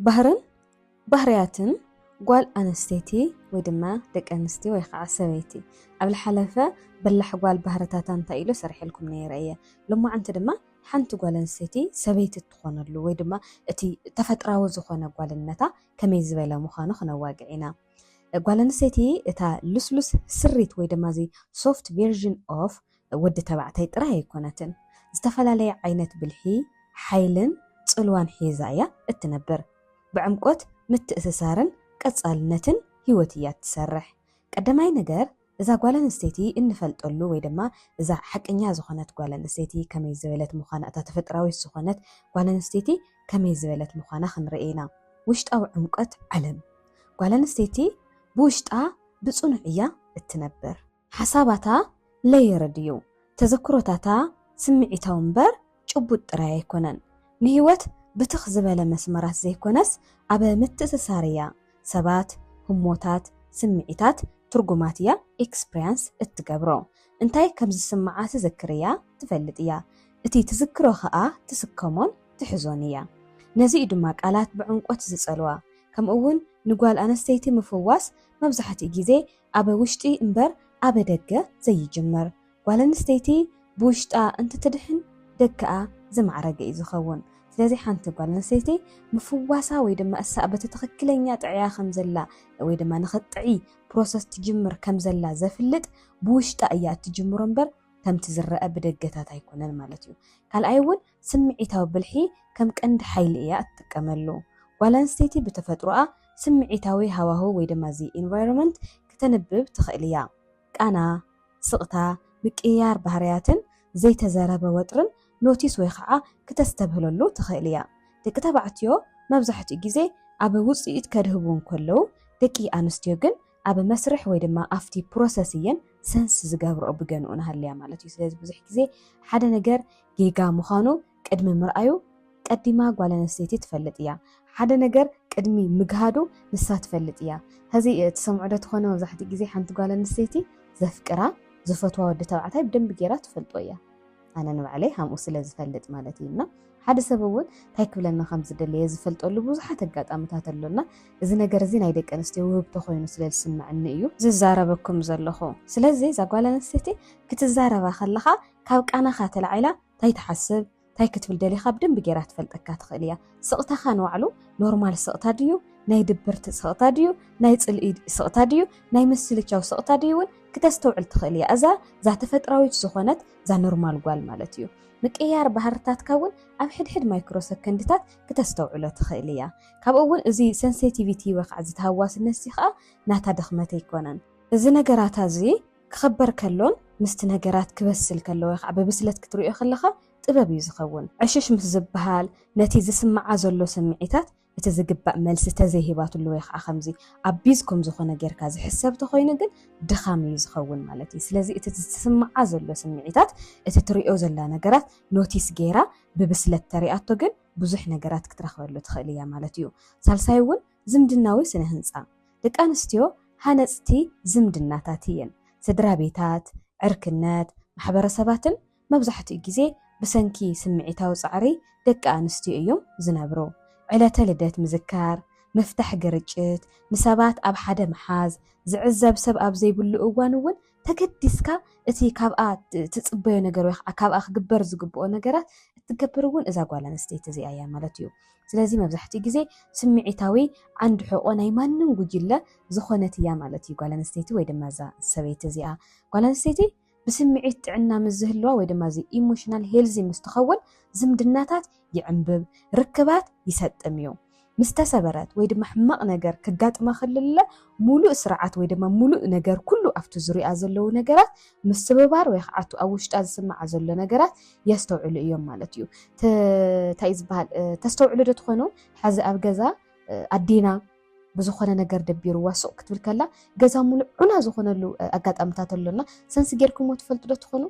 ባህርን ባህርያትን ጓል ኣንስተይቲ ወይ ድማ ደቂ ኣንስትዮ ወይ ከዓ ሰበይቲ ኣብ ዝሓለፈ በላሕ ጓል ባህርታታ እንታይ ኢሉ ሰሪሐልኩም ነይረ እየ ሎማዓንቲ ድማ ሓንቲ ጓል ኣንስተይቲ ሰበይቲ እትኾነሉ ወይ ድማ እቲ ተፈጥራዊ ዝኾነ ጓልነታ ከመይ ዝበለ ምዃኑ ክነዋግዕ ኢና። ጓል ኣንስተይቲ እታ ልስሉስ ስሪት ወይ ድማ እዚ ሶፍት ቨርዥን ኦፍ ወዲ ተባዕታይ ጥራይ ኣይኮነትን። ዝተፈላለየ ዓይነት ብልሒ፣ ሓይልን ጽልዋን ሒዛ እያ እትነብር። ብዕምቆት ምትእስሳርን ቀጻልነትን ህይወት እያ እትሰርሕ። ቀዳማይ ነገር እዛ ጓል ኣንስተይቲ እንፈልጠሉ ወይ ድማ እዛ ሓቀኛ ዝኾነት ጓል ኣንስተይቲ ከመይ ዝበለት ምዃና እታ ተፈጥራዊት ዝኾነት ጓል ኣንስተይቲ ከመይ ዝበለት ምዃና ክንርኢ ኢና። ውሽጣዊ ዕምቆት ዓለም ጓል ኣንስተይቲ ብውሽጣ ብጽኑዕ እያ እትነብር። ሓሳባታ ለየርድ እዩ፣ ተዘክሮታታ ስምዒታዊ እምበር ጭቡጥ ጥራይ ኣይኮነን። ንህይወት ብትኽ ዝበለ መስመራት ዘይኮነስ ኣብ ምትእስሳር እያ፣ ሰባት፣ ህሞታት፣ ስምዒታት፣ ትርጉማት እያ experience እትገብሮ። እንታይ ከም ዝስምዓ ትዝክር እያ፣ ትፈልጥ እያ። እቲ ትዝክሮ ከኣ ትስከሞን ትሕዞን እያ። ነዚ እዩ ድማ ቃላት ብዕምቆት ዝጸልዋ። ከምኡ'ውን ንጓል ኣንስተይቲ ምፍዋስ መብዛሕትኡ ግዜ ኣበ ውሽጢ እምበር ኣበ ደገ ዘይጅመር ጓል ኣንስተይቲ ብውሽጣ እንትትድሕን ደገኣ ዝማዕረገ እዩ ዝኸውን ስለዚ ሓንቲ ጓል ኣንስተይቲ ምፍዋሳ ወይ ድማ እሳ በቲ ትኽክለኛ ጥዕያ ከምዘላ ወይ ድማ ንኽትጥዒ ፕሮሰስ ትጅምር ከምዘላ ዘፍልጥ ብውሽጣ እያ እትጅምሮ እምበር ከምቲ ዝረኣ ብደገታት ኣይኮነን ማለት እዩ ካልኣይ እውን ስምዒታዊ ብልሒ ከም ቀንዲ ሓይሊ እያ እትጥቀመሉ። ጓል ኣንስተይቲ ብተፈጥሮኣ ስምዒታዊ ሃዋህው ወይ ድማ እዚ ኢንቫይሮመንት ክተንብብ ትኽእል እያ። ቃና፣ ስቕታ፣ ምቅይያር ባህርያትን ዘይተዘረበ ወጥርን ኖቲስ ወይ ኻዓ ክተስተብህለሉ ትኽእል እያ። ደቂ ተባዕትዮ መብዛሕትኡ ግዜ ኣብ ውጽኢት ከድህቡ እንከለዉ ደቂ ኣንስትዮ ግን ኣብ መስርሕ ወይ ድማ ኣብቲ ፕሮሰስ እየን ሰንስ ዝገብርኦ ብገንኡ ንሃልያ ማለት እዩ ስለዚ ብዙሕ ግዜ ሓደ ነገር ጌጋ ምዃኑ ቅድሚ ምርኣዩ ቀዲማ ጓል ኣንስተይቲ ትፈልጥ እያ ሓደ ነገር ቅድሚ ምግሃዱ ንሳ ትፈልጥ እያ ሕዚ ትሰምዑ ዶ ትኾነ መብዛሕትኡ ግዜ ሓንቲ ጓል ኣንስተይቲ ዘፍቅራ ዝፈትዋ ወዲ ተባዕታይ ብደንቢ ጌራ ትፈልጦ እያ ኣነ ንባዕለይ ሃምኡ ስለ ዝፈልጥ ማለት እዩ እና ሓደ ሰብ እውን እንታይ ክብለና ከም ዝደለየ ዝፈልጠሉ ብዙሓት ኣጋጣምታት ኣሎና እዚ ነገር እዚ ናይ ደቂ ኣንስትዮ ውህብቶ ኮይኑ ስለ ዝስምዐኒ እዩ ዝዛረበኩም ዘለኹ ስለዚ እዛ ጓል ኣንስተይቲ ክትዛረባ ከለኻ ካብ ቃናኻ ተላዒላ እንታይ ትሓስብ እንታይ ክትብል ደሊኻ ብደንቢ ጌራ ትፈልጠካ ትኽእል እያ ስቕታኻ ንባዕሉ ኖርማል ስቕታ ድዩ ናይ ድብርቲ ስቕታ ድዩ ናይ ፅልኢ ስቕታ ድዩ ናይ ምስልቻው ስቕታ ድዩ እውን ክተስተውዕል ትኽእል እያ እዛ እዛ ተፈጥራዊት ዝኾነት እዛ ኖርማል ጓል ማለት እዩ። ምቅይያር ባህርታትካ እውን ኣብ ሕድሕድ ማይክሮ ሰከንድታት ክተስተውዕሎ ትኽእል እያ። ካብኡ እውን እዚ ሰንሴቲቪቲ ወይ ከዓ እዚ ተሃዋስነት እዚ ከዓ ናታ ድኽመት ኣይኮነን። እዚ ነገራታ እዚ ክኽበር ከሎን ምስቲ ነገራት ክበስል ከሎ ወይ ከዓ ብብስለት ክትርእዮ ከለኻ ጥበብ እዩ ዝኸውን። ዕሽሽ ምስ ዝበሃል ነቲ ዝስምዓ ዘሎ ስምዒታት እቲ ዝግባእ መልሲ ተዘይሂባትሉ ወይ ከዓ ከምዚ ኣቢዝ ከም ዝኾነ ጌርካ ዝሕሰብ ተኾይኑ ግን ድኻም እዩ ዝኸውን ማለት እዩ። ስለዚ እቲ ዝስምዓ ዘሎ ስምዒታት እቲ ትሪኦ ዘላ ነገራት ኖቲስ ጌራ ብብስለት ተሪኣቶ ግን ብዙሕ ነገራት ክትረኽበሉ ትኽእል እያ ማለት እዩ። ሳልሳይ እውን ዝምድናዊ ስነ ህንፃ ደቂ ኣንስትዮ ሃነፅቲ ዝምድናታት እየን። ስድራ ቤታት፣ ዕርክነት፣ ማሕበረሰባትን መብዛሕትኡ ግዜ ብሰንኪ ስምዒታዊ ጻዕሪ ደቂ ኣንስትዮ እዮም ዝነብሩ። ዕለተ ልደት ምዝካር፣ ምፍታሕ ግርጭት፣ ንሰባት ኣብ ሓደ ምሓዝ፣ ዝዕዘብ ሰብ ኣብ ዘይብሉ እዋን እውን ተገዲስካ እቲ ካብኣ ትጽበዮ ነገር ወይ ከዓ ካብኣ ክግበር ዝግብኦ ነገራት እትገብር እውን እዛ ጓል ኣንስተይቲ እዚኣ እያ ማለት እዩ። ስለዚ መብዛሕትኡ ግዜ ስምዒታዊ ዓንዲ ሕቆ ናይ ማንም ጉጅለ ዝኾነት እያ ማለት እዩ ጓል ኣንስተይቲ ወይ ድማ እዛ ሰበይቲ እዚኣ ጓል ኣንስተይቲ ብስምዒት ጥዕና ምስ ዝህልዋ ወይ ድማ እዚ ኢሞሽናል ሄልዚ ምስ ትኸውን ዝምድናታት ይዕምብብ፣ ርክባት ይሰጥም እዩ። ምስ ተሰበረት ወይ ድማ ሕማቕ ነገር ክጋጥማ ክልለ ሙሉእ ስርዓት ወይ ድማ ሙሉእ ነገር ኩሉ ኣብቲ ዙርይኣ ዘለዉ ነገራት ምስብባር ወይ ከዓ ኣብ ውሽጣ ዝስምዓ ዘሎ ነገራት የስተውዕሉ እዮም ማለት እዩ። እንታይ እዩ ዝበሃል ተስተውዕሉ ዶ ትኾኑ ሐዚ ኣብ ገዛ ኣዴና ብዝኾነ ነገር ደቢርዋ ሱቕ ክትብል ከላ ገዛ ሙሉእ ዑና ዝኾነሉ ኣጋጣምታት ኣሎ እና ሰንስ ጌርኩምዎ ትፈልጡ ዶ ትኾኑ?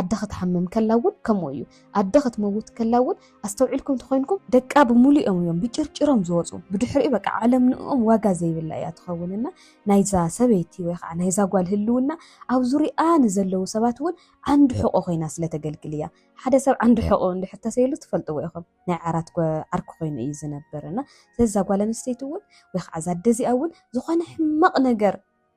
ኣደ ክትሓምም ከላ እውን ከምኡ እዩ። ኣደ ክትመውት ከላ እውን ኣስተውዒልኩም ተኾይንኩም ደቃ ብሙሉኦም እዮም ብጭርጭሮም ዝወፁ ብድሕሪኡ በቃ ዓለም ንእኦም ዋጋ ዘይብላ እያ ትኸውን እና ናይዛ ሰበይቲ ወይ ከዓ ናይዛ ጓል ህልውና ኣብ ዙርይኣ ንዘለዉ ሰባት እውን ዓንዲ ሕቖ ኮይና ስለተገልግል እያ። ሓደ ሰብ ዓንዲ ሕቖኡ እንድሕር ተሰይሉ ትፈልጥዎ ኢኹም። ናይ ዓራት ዓርኪ ኮይኑ እዩ ዝነብር እና ስለዚ እዛ ጓል ኣንስተይቲ እውን ወይ ከዓ እዛ ኣደ እዚኣ እውን ዝኾነ ሕማቕ ነገር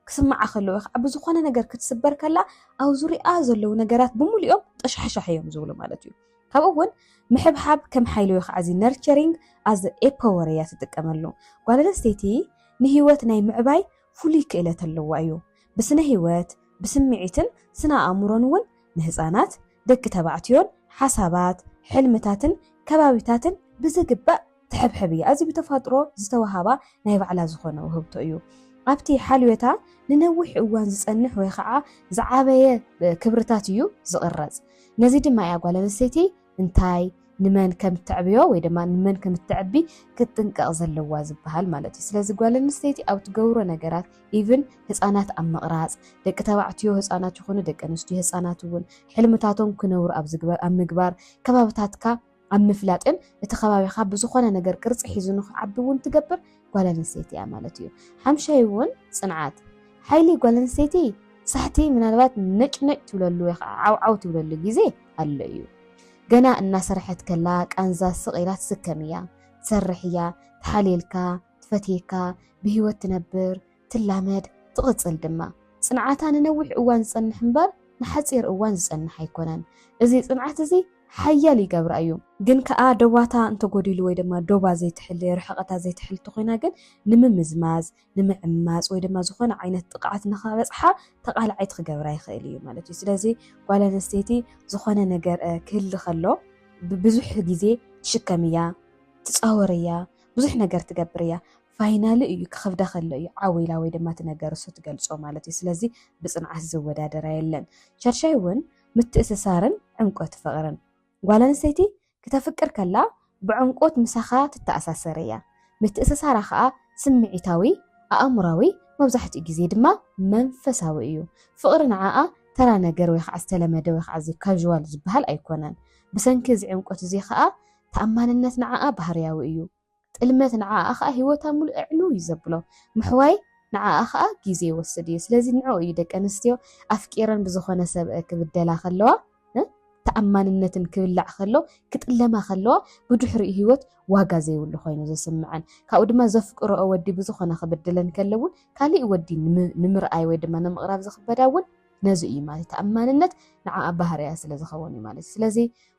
ክስምዓ ከሎ ወይ ከዓ ብዝኾነ ነገር ክትስበር ከላ ኣብ ዙሪኣ ዘለዉ ነገራት ብምሉኦም ጠሻሕሻሕ እዮም ዝብሉ ማለት እዩ ካብኡ እውን ምሕብሓብ ከም ሓይሊ ወይ ከዓ እዚ ነርቸሪንግ ኣዝ ኤፐወር እያ ትጥቀመሉ ጓል ኣንስተይቲ ንህይወት ናይ ምዕባይ ፍሉይ ክእለት ኣለዋ እዩ ብስነ ህይወት ብስምዒትን ስነ ኣእምሮን እውን ንህፃናት ደቂ ተባዕትዮን ሓሳባት፣ ሕልምታትን ከባቢታትን ብዝግባእ ትሕብሕብ እያ። እዚ ብተፋጥሮ ዝተወሃባ ናይ ባዕላ ዝኾነ ውህብቶ እዩ። ኣብቲ ሓልዮታ ንነዊሕ እዋን ዝጸንሕ ወይ ኸዓ ዝዓበየ ክብርታት እዩ ዝቕረጽ። ነዚ ድማ እያ ጓል ኣንስተይቲ እንታይ፣ ንመን ከም እተዕብዮ ወይ ድማ ንመን ከም እተዕቢ ክትጥንቀቕ ዘለዋ ዝበሃል ማለት እዩ ስለዚ ጓል ኣንስተይቲ ኣብ ትገብሮ ነገራት ኢቭን ህፃናት ኣብ ምቕራፅ ደቂ ተባዕትዮ ህፃናት ይኹኑ ደቂ ኣንስትዮ ህፃናት እውን ሕልምታቶም ክነብሩ ኣብ ዝግበር ኣብ ምግባር ከባብታትካ ኣብ ምፍላጥን እቲ ከባቢኻ ብዝኾነ ነገር ቅርፂ ሒዙ ንክዓቢ እውን ትገብር ጓል ኣንስተይቲ እያ ማለት እዩ። ሓምሻይ እውን ፅንዓት ሓይሊ ጓል ኣንስተይቲ ሳሕቲ ምናልባት ነጭነጭ ትብለሉ ወይ ከዓ ዓውዓው ትብለሉ ግዜ ኣሎ እዩ። ገና እናሰርሐት ከላ ቃንዛ ስቕ ኢላ ትስከም እያ፣ ትሰርሕ እያ፣ ትሓልየልካ፣ ትፈትየካ፣ ብህይወት ትነብር፣ ትላመድ፣ ትቕጽል ድማ። ጽንዓታ ንነዊሕ እዋን ዝጸንሕ እምበር ንሓጺር እዋን ዝጸንሕ ኣይኮነን። እዚ ጽንዓት እዚ ሓያል ይገብራ እዩ። ግን ከኣ ዶባታ እንተጎዲሉ ወይ ድማ ዶባ ዘይትሕሊ፣ ርሕቐታ ዘይትሕሊ እንተኾይና ግን ንምምዝማዝ፣ ንምዕማጽ ወይ ድማ ዝኾነ ዓይነት ጥቕዓት ንኸበጽሓ ተቓላዒት ክገብራ ይኽእል እዩ ማለት እዩ። ስለዚ ጓል ኣንስተይቲ ዝኾነ ነገር ክህሊ ከሎ ብብዙሕ ግዜ ትሽከም እያ፣ ትጻወር እያ፣ ብዙሕ ነገር ትገብር እያ። ፋይናሊ እዩ ክኸብዳ ከሎ እዩ ዓው ኢላ ወይ ድማ እቲ ነገርሱ ትገልጾ ማለት እዩ ስለዚ ብጽንዓት ዝወዳደራ የለን ሸርሻይ እውን ምትእስሳርን ዕምቆት ፍቕርን ጓል ኣንስተይቲ ክተፍቅር ከላ ብዕምቆት ምሳኻ ትተኣሳሰር እያ ምትእስሳራ ከኣ ስምዒታዊ ኣእምራዊ መብዛሕትኡ ግዜ ድማ መንፈሳዊ እዩ ፍቕሪ ንዓኣ ተራ ነገር ወይ ከዓ ዝተለመደ ወይ ከዓ እዚ ካዥዋል ዝበሃል ኣይኮነን ብሰንኪ እዚ ዕምቆት እዚ ከኣ ተኣማንነት ንዓኣ ባህርያዊ እዩ ጥልመት ንዓኣ ከኣ ሂወታ ምሉእ ዕንው እዩ ዘብሎ ምሕዋይ ንዓኣ ከኣ ግዜ ይወስድ እዩ ስለዚ ንዕኡ እዩ ደቂ ኣንስትዮ ኣፍቂረን ብዝኾነ ሰብ ክብደላ ከለዋ ተኣማንነትን ክብላዕ ከሎ ክጥለማ ከለዋ ብድሕሪኡ ሂወት ዋጋ ዘይብሉ ኮይኑ ዝስምዐን ካብኡ ድማ ዘፍቅረኦ ወዲ ብዝኾነ ክብድለን ከሎ እውን ካሊእ ወዲ ንምርኣይ ወይ ድማ ንምቕራብ ዝኽበዳ እውን ነዚ እዩ ማለት ተኣማንነት ንዓኣ ባህርያ ስለ ዝኸውን እዩ ማለት ስለዚ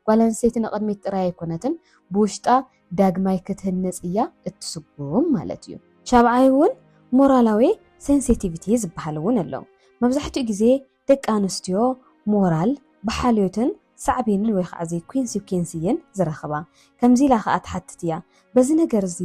ጓል ኣንስተይቲ ንቕድሚት ጥራይ ኣይኮነትን ብውሽጣ ዳግማይ ክትህነጽ እያ እትስጉም ማለት እዩ። ሻብዓይ እውን ሞራላዊ ሴንሲቲቪቲ ዝበሃል እውን ኣሎ። መብዛሕትኡ ግዜ ደቂ ኣንስትዮ ሞራል ብሓልዮትን ሳዕቤንን ወይ ከዓ ዘይኮንሲኲንስ እየን ዝረኽባ። ከምዚ ኢላ ከዓ ትሓትት እያ፣ በዚ ነገር እዚ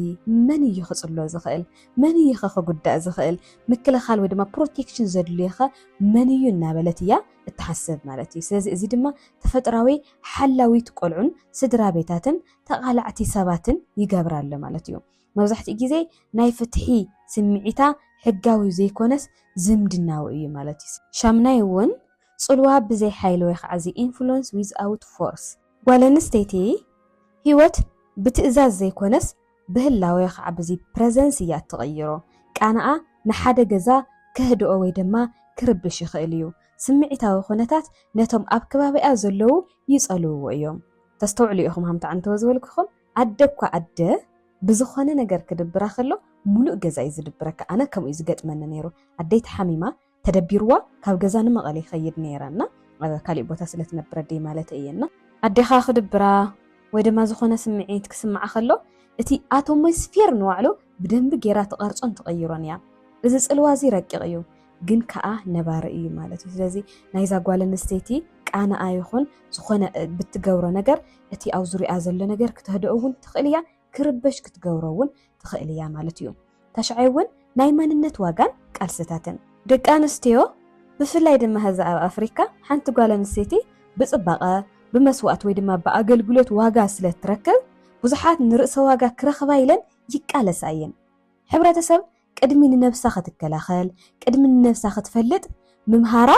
መን እዩ ክጽሎ ዝኽእል? መን እዩ ከ ክጉዳእ ዝኽእል? ምክልኻል ወይ ድማ ፕሮቴክሽን ዘድልዮ ከ መን እዩ? እናበለት እያ እትሓስብ ማለት እዩ። ስለዚ እዚ ድማ ተፈጥራዊ ሓላዊት ቆልዑን ስድራቤታትን ተቓላዕቲ ሰባትን ይገብራ ኣሎ ማለት እዩ። መብዛሕትኡ ግዜ ናይ ፍትሒ ስምዒታ ሕጋዊ ዘይኮነስ ዝምድናዊ እዩ ማለት እዩ። ሻምናይ እውን ጽልዋ ብዘይ ሓይሊ ወይ ኸዓ the influence without force። ጓል ኣንስተይቲ ህይወት ብትእዛዝ ዘይኮነስ ብህላወ ወይ ኸዓ ብዚ presence እያ እትቕይሮ። ቃናኣ ንሓደ ገዛ ከህድኦ ወይ ድማ ክርብሽ ይኽእል እዩ። ስምዒታዊ ኩነታት ነቶም ኣብ ከባቢኣ ዘለዉ ይጸልውዎ እዮም። ተስተውዕሉ ኢኹም ሃምታ ዕንተወ ዝበልኩኹም ኣደ እኳ ኣደ ብዝኾነ ነገር ክድብራ ከሎ ሙሉእ ገዛ እዩ ዝድብረካ ኣነ ከምኡ እዩ ዝገጥመኒ ነይሩ ኣደይ ተሓሚማ ተደቢርዋ ካብ ገዛ ንመቐለ ይኸይድ ነይረ እና ኣብ ካሊእ ቦታ ስለ ትነብር ኣደይ ማለተይ እየ እና ኣዴኻ ክድብራ ወይ ድማ ዝኾነ ስምዒት ክስምዓ ከሎ እቲ ኣቶሞስፌር ንባዕሉ ብደንቢ ጌራ ትቐርጾን ትቐይሮን እያ እዚ ጽልዋ እዚ ረቂቕ እዩ ግን ከዓ ነባሪ እዩ ማለት እዩ። ስለዚ ናይዛ ጓል ኣንስተይቲ ቃናኣ ይኹን ዝኾነ ብትገብሮ ነገር እቲ ኣብ ዙሪኣ ዘሎ ነገር ክተህደኦ እውን ትኽእል እያ፣ ክርበሽ ክትገብሮ እውን ትኽእል እያ ማለት እዩ። ታሽዓይ እውን ናይ መንነት ዋጋን ቃልስታትን ደቂ ኣንስትዮ ብፍላይ ድማ ህዚ ኣብ ኣፍሪካ ሓንቲ ጓል ኣንስተይቲ ብፅባቐ ብመስዋእት ወይ ድማ ብኣገልግሎት ዋጋ ስለ እትረክብ ብዙሓት ንርእሰ ዋጋ ክረኽባ ኢለን ይቃለሳ እየን። ሕብረተሰብ ቅድሚ ንነብሳ ክትከላኸል ቅድሚ ንነብሳ ክትፈልጥ ምምሃራ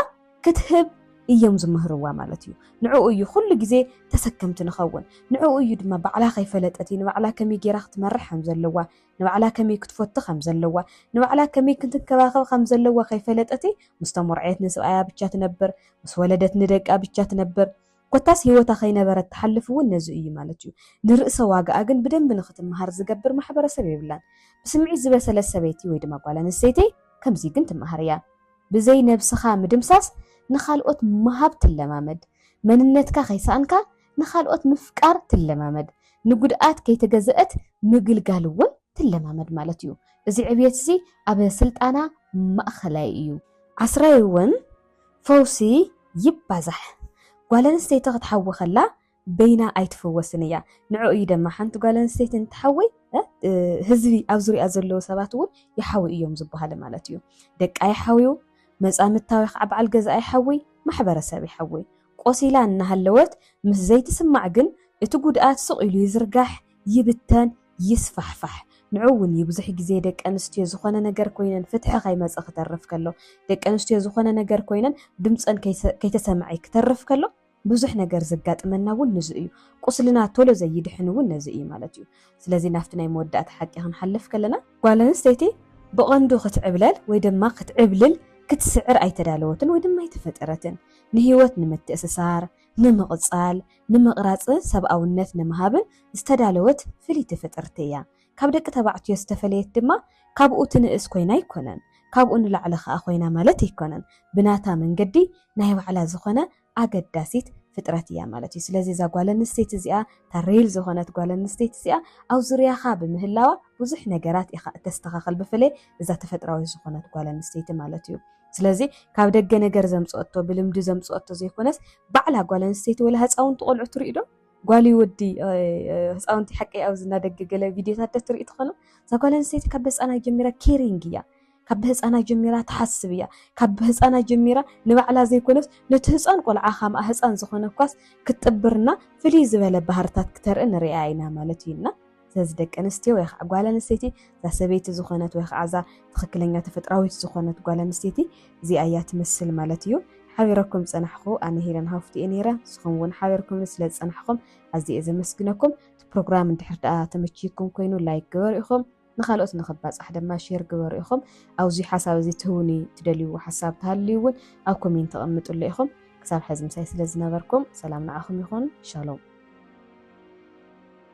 ክትህብ እዮም ዝምህርዋ ማለት እዩ። ንዕኡ እዩ ኩሉ ግዜ ተሰከምቲ ንኸውን። ንዕኡ እዩ ድማ ባዕላ ከይፈለጠት ንባዕላ ከመይ ጌራ ክትመርሕ ከም ዘለዋ፣ ንባዕላ ከመይ ክትፈቱ ከም ዘለዋ፣ ንባዕላ ከመይ ክትንከባኸብ ከም ዘለዋ ከይፈለጠት ምስ ተሞርዐየት ንስብኣያ ብቻ ትነብር፣ ምስ ወለደት ንደቃ ብቻ ትነብር። ኮታስ ህይወታ ከይነበረት ትሓልፍ እውን ነዚ እዩ ማለት እዩ። ንርእሰ ዋጋኣ ግን ብደንቢ ንክትመሃር ዝገብር ማሕበረሰብ የብላን። ብስምዒት ዝበሰለት ሰበይቲ ወይ ድማ ጓል ኣንስተይቲ ከምዚ ግን ትመሃር እያ። ብዘይ ነብስኻ ምድምሳስ ንኻልኦት ምሃብ ትለማመድ። መንነትካ ከይሰኣንካ ንኻልኦት ምፍቃር ትለማመድ። ንጉድኣት ከይተገዘእት ምግልጋል እውን ትለማመድ ማለት እዩ። እዚ ዕብየት እዚ ኣብ ስልጣና ማእኸላይ እዩ። ዓስራይ እውን ፈውሲ ይባዛሕ ጓል ኣንስተይቲ ክትሓዊ ከላ በይና ኣይትፍወስን እያ ንዕኡ እዩ ደማ ሓንቲ ጓል ኣንስተይቲ እንትሓዊ ህዝቢ ኣብ ዙሪኣ ዘለዉ ሰባት እውን ይሓዊ እዮም ዝበሃለ ማለት እዩ ደቃ ይሓውዩ መጻምታዊ ከዓ በዓል ገዛ ይሓዊ ማሕበረሰብ ይሓዊ ቆሲላ እናሃለወት ምስ ዘይትስማዕ ግን እቲ ጉድኣት ስቕ ኢሉ ይዝርጋሕ ይብተን ይስፋሕፋሕ ንዑ ውን እዩ ብዙሕ ግዜ ደቂ ኣንስትዮ ዝኾነ ነገር ኮይነን ፍትሒ ከይመጸ ክተርፍ ከሎ ደቂ ኣንስትዮ ዝኾነ ነገር ኮይነን ድምጸን ከይተሰምዔ ክተርፍ ከሎ ብዙሕ ነገር ዘጋጥመና ውን ንዙ እዩ ቁስልና ቶሎ ዘይድሕን ውን ነዙ እዩ ማለት እዩ ስለዚ ናፍቲ ናይ መወዳእታ ሓቂ ክንሓልፍ ከለና ጓል ኣንስተይቲ ብቐንዱ ክትዕብለል ወይ ድማ ክትዕብልል ክትስዕር ኣይተዳለወትን ወይ ድማ ኣይተፈጠረትን ንህይወት ንምትእስሳር ንምቕጻል፣ ንምቕራጽ ሰብኣውነት ንምሃብን ዝተዳለወት ፍልይቲ ፍጥርቲ እያ። ካብ ደቂ ተባዕትዮ ዝተፈለየት ድማ ካብኡ ትንእስ ኮይና ኣይኮነን፣ ካብኡ ንላዕሊ ከኣ ኮይና ማለት ኣይኮነን። ብናታ መንገዲ ናይ ባዕላ ዝኾነ ኣገዳሲት ፍጥረት እያ ማለት እዩ። ስለዚ እዛ ጓል ኣንስተይቲ እዚኣ፣ እታ ሬል ዝኾነት ጓል ኣንስተይቲ እዚኣ ኣብ ዙርያኻ ብምህላዋ ብዙሕ ነገራት ኢኻ እተስተኻኽል፣ ብፍላይ እዛ ተፈጥራዊት ዝኾነት ጓል ኣንስተይቲ ማለት እዩ። ስለዚ ካብ ደገ ነገር ዘምጽኦቶ ብልምዲ ዘምጽኦቶ ዘይኮነስ ባዕላ ጓል ኣንስተይቲ ወላ ህፃውንቲ ቆልዑ ትርኢ ዶ ጓል ወዲ ህፃውንቲ ሓቂ ኣብዚ እናደገ ገለ ቪድዮታት ዶ ትርኢ ትኾኑ እዛ ጓል ኣንስተይቲ ካብ ህፃና ጀሚራ ኬሪንግ እያ ካብ ብህፃና ጀሚራ ትሓስብ እያ ካብ ብህፃና ጀሚራ ንባዕላ ዘይኮነስ ነቲ ህፃን ቆልዓ ካምኣ ህፃን ዝኾነ እኳስ ክትጥብርና ፍልይ ዝበለ ባህርታት ክተርኢ ንሪኣ ኢና ማለት እዩ እና ስለዚ ደቂ ኣንስትዮ ወይ ከዓ ጓል ኣንስተይቲ እዛ ሰበይቲ ዝኾነት ወይ ከዓ እዛ ትኽክለኛ ተፈጥራዊት ዝኾነት ጓል ኣንስተይቲ እዚኣ እያ ትመስል ማለት እዩ። ሓቢረኩም ፀናሕኹ ኣነ ሄለን ሃፍቱ እየ ነይረ ንስኹም እውን ሓቢርኩም ስለ ዝፀናሕኹም ኣዝየ እየ ዘመስግነኩም። እቲ ፕሮግራም እንድሕር ደኣ ተመችይኩም ኮይኑ ላይክ ግበሩ ኢኹም ንካልኦት ንኽባፃሕ ድማ ሼር ግበሩ ኢኹም። ኣብዚ ሓሳብ እዚ ትህውኒ ትደልይዎ ሓሳብ ተሃልዩ እውን ኣብ ኮሜንት ተቐምጥሉ ኢኹም። ክሳብ ሕዚ ምሳይ ስለ ዝነበርኩም ሰላም ንዓኹም ይኹን። ሻሎም